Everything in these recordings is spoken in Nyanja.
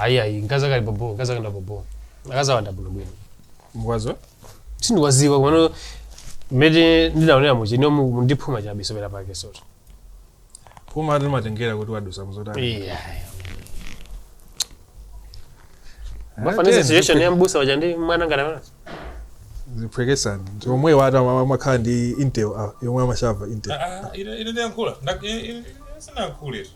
ayi ayi mkazi akali bobo mkazi akanda bobo akazi awanda bwino bwino nkwawo sindikwadziwa komano mmene ndinaonera mu chi ino mu- ndiphuma chabe sobera yake soto puma ati matengera kuti wadusa muzotani Iya. Mumafaniza situation ya mbusa waja ndi mwana ngati amana ziphwekesani omwe oti amakhala ndi intel ah, yomwe amashava intel ine ndiyankhula sinayankhule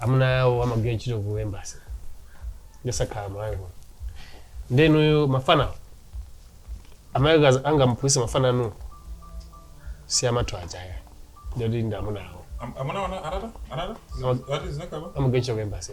amuna awo amagwira ntchito ku embassy ndi sakhala malawi kuno ndi inuyo mafana amayi ake angamuphunzitse mafana anu si amathu ajawa ndati ndi amuna awo Am- Amuna wana anata anata. Zati zinakaba. amagwira ntchito ku embassy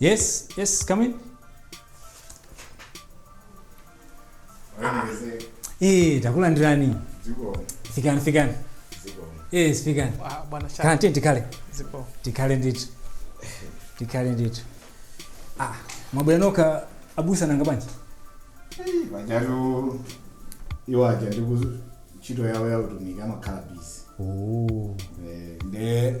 Yes, yes, come in. Eh, takulandirani. Fikani, fikani. Yes, fikani. Ah, bwana Shaka. Kaya tikhale. Zipo. Tikhale ndithu. Tikhale ndithu. Ah, mwabwera nokha abusa nanga bwanji? pajatu iwo aja ndi ku ntchito yawo ya utumiki amakhala busy Oh. Eh, nde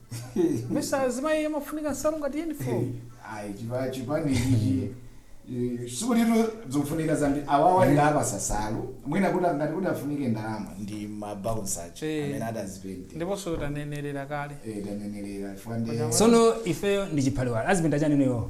mesa azimayi amafunika nsalu ngati uniform ayi chipa chipani ichi eh, sikuti zikufunika zambiri awawa ndi opatsa nsalu mwina kuti ngati kuti afunike ndalama ndi mabouncer awo Eh. amene adzazipente ndiponso tanenerera kale eh tanenerera chifukwa ndi Koma- sono ifeyo ndi chiphaliwala azipenta chani inuyo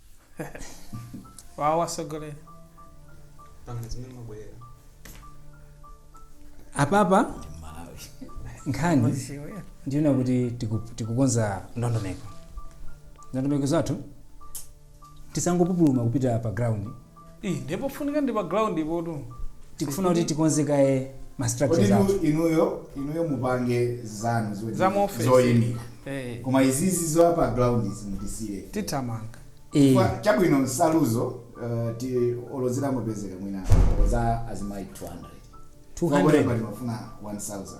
wawo atsogoleri pangani zimene mwabwerera apapa nkhani Uziwe. ndi yoona kuti tiku- tikukonza ndondomeko ndondomeko zathu tisangopupuluma kupita pa ground Ih, ndiye pofunika ndi pa ground potu. tikufuna kuti tikonze kaye ma structures athu Koditu inuyo inuyo mupange zanu zoti- Za mu office. zoyimira Eh, koma izizi za pa ground izi mutisiye tithamanga. Eh, Kwa- chabwino nsaluzo uh, tiyerekeze mupezeka mwina za azimayi 200 200 Wakulemba tikufuna 1000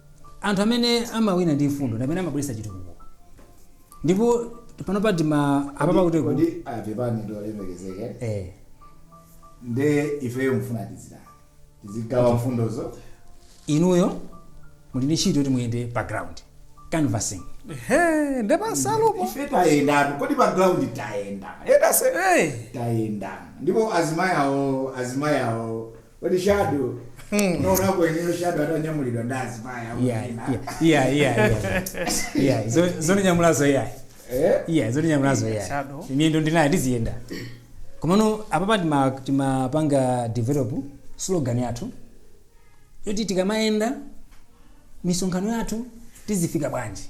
Anthu amene amawina ndi mfundo ndi amene amabweretsa chitukuko ndipo panopa tima apapa kuti Kodi apepani olemekezeka eh nde ifeyo mfuna tizitani tizigawa mfundozo inuyo muli ndi ntchito yoti muyende pa ground canvassing Ehe, nde pansalupo. ife tayendatu kodi pa ground tayenda yetetse Hey. tayenda ndipo azimayi awo azimayi awo Kodi shadow. Unaonako iweyo shadow atanyamulidwa ndi azimayi apo Yeah, tena. yeah, yeah, yeah, yeah. Yeah, zo- zondinyamulazo yeah. Eh? Yeah, zondinyamulazo yeah. Shadow. Miyendo ndinayo ndiziyenda. Komano apapa tima timapanga develop slogan yathu. Yoti tikamayenda misonkhano yathu tizifika bwanji.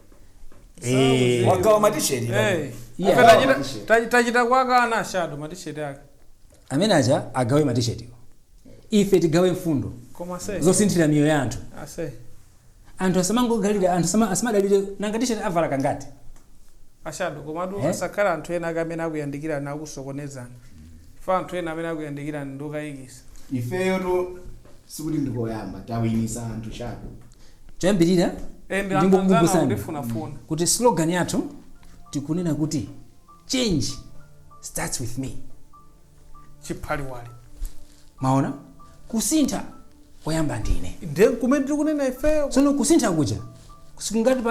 Eh. wagawa matisheti Eh. Yeah. Apa tachita- Matisheti. tachi- tachita kukana shadow matisheti ake amene aja agawe matishetiwo ife tigawe mfundo koma se zosinthira miyoyo ya anthu ase anthu asamangodalira anthu asama- asamadalire nanga tisheti avala kangati ashado komatu Eh? asakhala anthu ena ake amene akuyandikirani akusokonezani anthu ena amene akuyandikirani ndokayikisa ifeyotu sikuti ndikoyamba tawinitsa anthu sharp. Choyambirira ndingokukumbutsani kuti slogan yathu tikunena kuti change starts with me chiphaliwali maona kusintha kuyamba ndi ine nde chimene tiri kunena ifeyo tsono kusintha kuja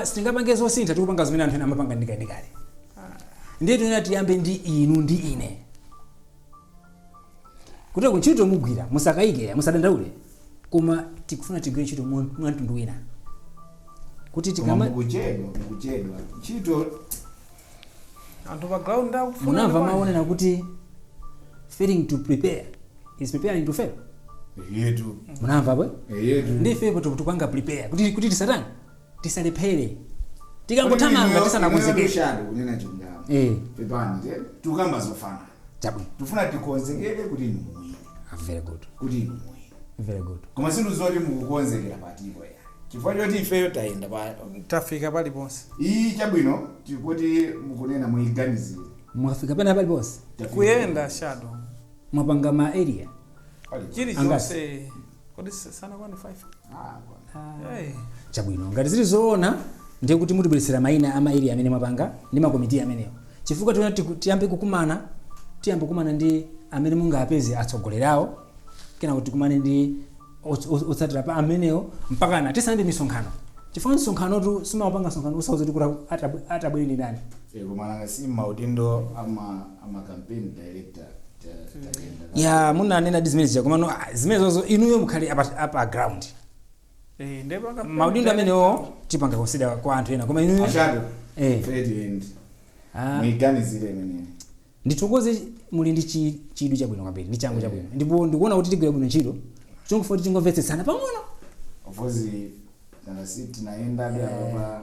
sitingapange zosintha tikupanga zimene anthu ena amapanga ndikalikale ndiye tinena tiyambe ndi inu ndi ine Kuteroko ntchito mugwira musakayike eya musadandaule koma tikufuna tigwire ntchito mwa mwa mtundu wina kuti koma tikama mukuchedwa mukuchedwa ntchito anthu pa ground akufuna munamva kwambiri. mawu onena kuti failing to prepare is preparing to fail eti munamva ndiye ndife kuti tikupanga prepare kuti kuti tisatani tisalephere tikangothamanga tisanakonzekere shado kunena chilungamo Eh. pepani je tukamba zoona chabwino tufuna tikonzekere kuti inu muwine Ah, very good kuti inu muwine very good koma zinthu zoti mukukonzekera palibe ya chifukwa choti ifeyo tayenda pa tafika paliponse ayi chabwino tikuti mukunena muyiganizire mwafika pena paliponse kuyenda shadow mwapanga ma area chilichonse kodi sa- sanakwane 5 Hey. chabwino ngati zili zoona ndiye kuti mutibweretsere mayina a ma area amene mwapanga ndi makomiti amenewo chifukwa tiona tiku- tiyambe kukumana tiyambe kukumana ndi amene mungapeze atsogoleri awo kenako tikumane ndi ots- ots- otsatira a amenewo mpaka na tisanayambe misonkhano chifukwa msonkhanotu simapanga msonkhano osauza kuti kuti atabwereni ndani koma nanga si maudindo ama ama campaign director ta- tayenda nawo. ya munanena ndi zimene zija komano ah, zimenezozo inuyo mukhale apa, apa ground Eh, nde paka- maudindo amenewo tipanga konsida kwa anthu ena koma inuyo Ashado, Eh. trade end. Ah. Muiganizire imeneyi. ndithokoze muli ndi chi- chidwi chabwino kwambiri ndi changu chabwino ndipo ndikuona kuti tigwira bwino ntchito chongofunika tingomvetsetsana pang'ono coz nanga si tinayendabe apa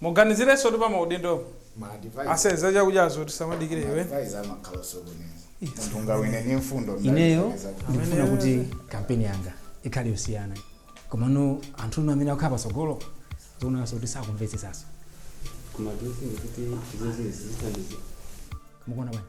muganizirensotu pa maudindo ma advisor ase za chakudyazo tisamadikire ma iwe advisor amakhala osokoneza munthu angawine ni mfundo mdali ineyo zake zake. ndikufuna kuti kampeni yanga ikhale yosiyana komano anthu inu amene akukhala patsogolo zikuonanso kuti sakumvetsetsanso koma tinsingi kuti izo zinthu zithandiza mukuona bwanji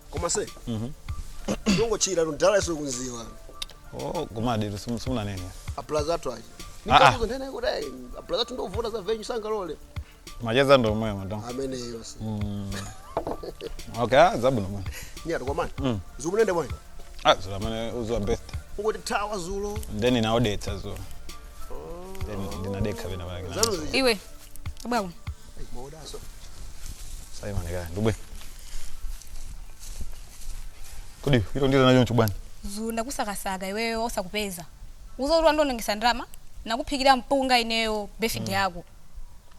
koma zedi ndongochira ndala yesu kudziwa oh koma ayitu simu- simunanene aplaza athu ayi Ah, ah. ndikakuuza ndine kuti ayi aplaza athu ndovuta za anyu sangalole macheza ndo omwewo madam ameneyo so okay ah, zabwino mwana nyati kwa mani Mm. dzulo munayenda bwanji ah dzulo amene udziwa best ungotithawa dzulo then inandibowetsa dzulo then ndinadekha pena pake zanu zija iwe bwaku Maudazo. Sasa imani gani? Ndugu. Kodi hilo ndicho nchibwana. Dzulo ndakusakasaka iweyo osakupeza. Udziwa ndinaonongetsa ndalama ndakuphikira mpunga ineyo birthday mm. yako.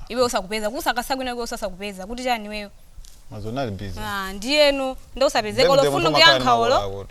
Iweyo osakupeza kusakasaka ineyo osakupeza kuti chani iweyo. Madzulo ndinali busy. Ah, ndiyeno nde osapezeka olo phone nkuyankha olo.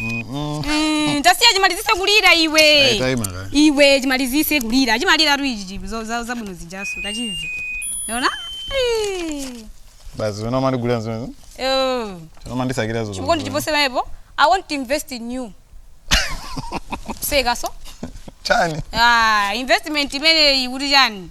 Mm, tasiya chimalizise kulira iwe Eh, taima kaye. iwe chimalizise kulira chimaliratu ichi chipi zo- za- zabwino zijaso takachiona Basi wena umandigulira nzimene. Wena umandisakira zozo. chikondi chiposenso apa i want to invest in you sekaso Chani. ah, investment imeneyi kuti chani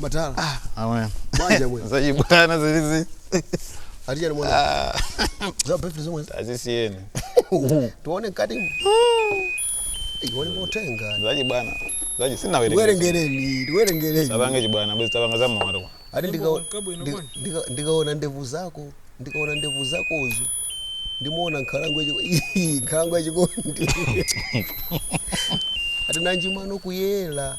Matala. Ah, awe. Banja bwe. Zachibwana zili izi. Atiuza ni mwana. Ah, Za pepe zomwe. tazisiyeni. Tuone kati. Iwone motenga. Zachibwana. Za chisinawerengera. Werengereni, werengereni. Tapanga chibwana, bwezi tapanga za mwana kwa. Ati ndika Nyimbo kabwino ndika- bwana. ndika- ndikaona ndevu zako, ndikaona ndevu zakozo. Ndimaona nkhalango yachiko. Nkhalango yachikondi. Ati nanji mano kuyera.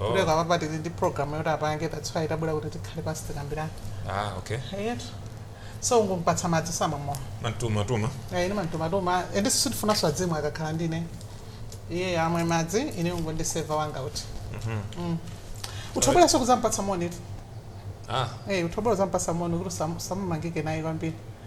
Oh. kuti kapena tili ndi program yoti apange that's why tabwera kuti tikhale pansi tikambirane ah okay eyetu so ungompatsa madzi samwa mowa mantumatuma ine mantumatuma ende sisi sindifunanso azimayi akakhala ndine iye amwe madzi ine ungondiseva wanga uti Mm. utabweranso kuzampatsa monitu ah Eh, utabwera uzampatsa moni kuti usamu- usamumangike naye kwambiri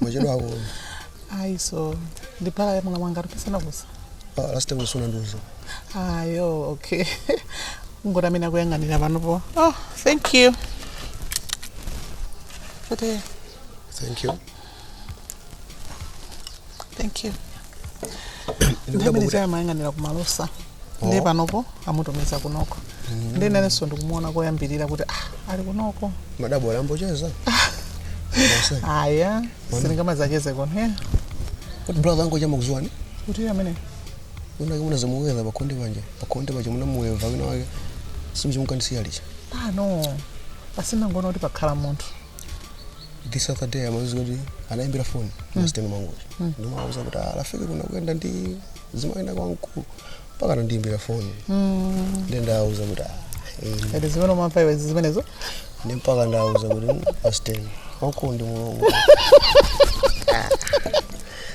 mwachedwako ayi so ndi brother wa amuna anga tipitsana kusa last time usuna nduzo ayo okay ndi uja amene akuyang'anira panopo oh thank you kuti thank you thank you nthawi imene timayang'anira kumalowa ndiye panopo amutumiza kunoko ndiye nanenso ndikumuona koyambilira kuti ah, ali kunoko madabo alambocheza aya sindingamadzacheze konko kuti brother angocha ndimakudziwani kuti amene unake munadzamupeza pakhonde panje pakhonde paje munamupeza wina wake simuchimukandisiya licha pano basi ndinangoona kuti pakhala munthu this other day amawauza kuti anaimbira foni masteni mwangozi ndinawauza kuti "Ah, afiki kuna kuyenda ndi zimayenda kwa mkulu mpaka anandiimbira foni ndi ndawauza kuti "Ah, eh, Ati zimene umamva iwe zimenezo ndi mpaka ndawauza kuti masteni wamkulu ndi mulungu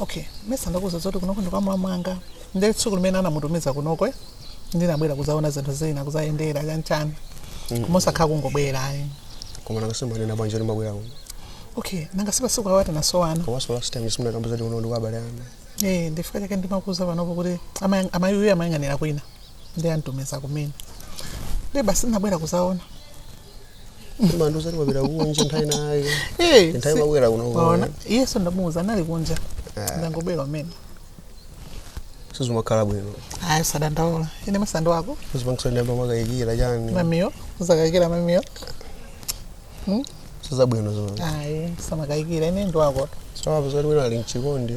okay mesa ndakuuza zoti kunoko ndi kwa mlamu wanga ndi tsiku limene anamutumiza kunoko eh, ndinabwera kuzaona zinthu zina kuzayendera chanchani mosakhala kungobwera ayi koma nakasimbanena banja kuti mabwera kuno okay nanga si pasiku awati nasowana komanso last time simunakamba zoti kuno ndi kwa abale anga Eh, ndichifukwa chake ndimakuuza panopo kuti ama- amayi uyu amayang'anira kwina ndi amtumiza kumene ndi basi ndinabwera kuzaona munandiuza kuti wapita kunja nthawi inayo Eh, nthawi si- mabwera kuno waona iyeyo ndamuuza anali kunja ndangobwera kumene sizimakhala bwino ayi usadandaule ine mesa ndi wako sizimakusandamba mwakayikira chani mamiyo ukakayikira mamiyo sizabwino zona ayi usamakayikire ine ndi wako sawapo zoti wina ali mchikondi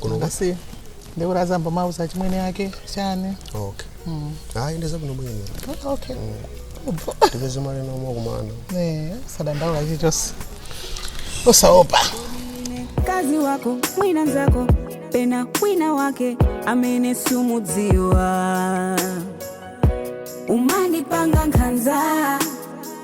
Kuno kwa- basi ndikuti azambe wauza achimwene ake chani okay Mm. hayi into zabwino bwino Ah, okay tipeze mali noma kumana Eh, osadandaula chilichonse osaopa mkazi wako mwina nzako pena wina wake amene sumudziwa umandipanga nkhanza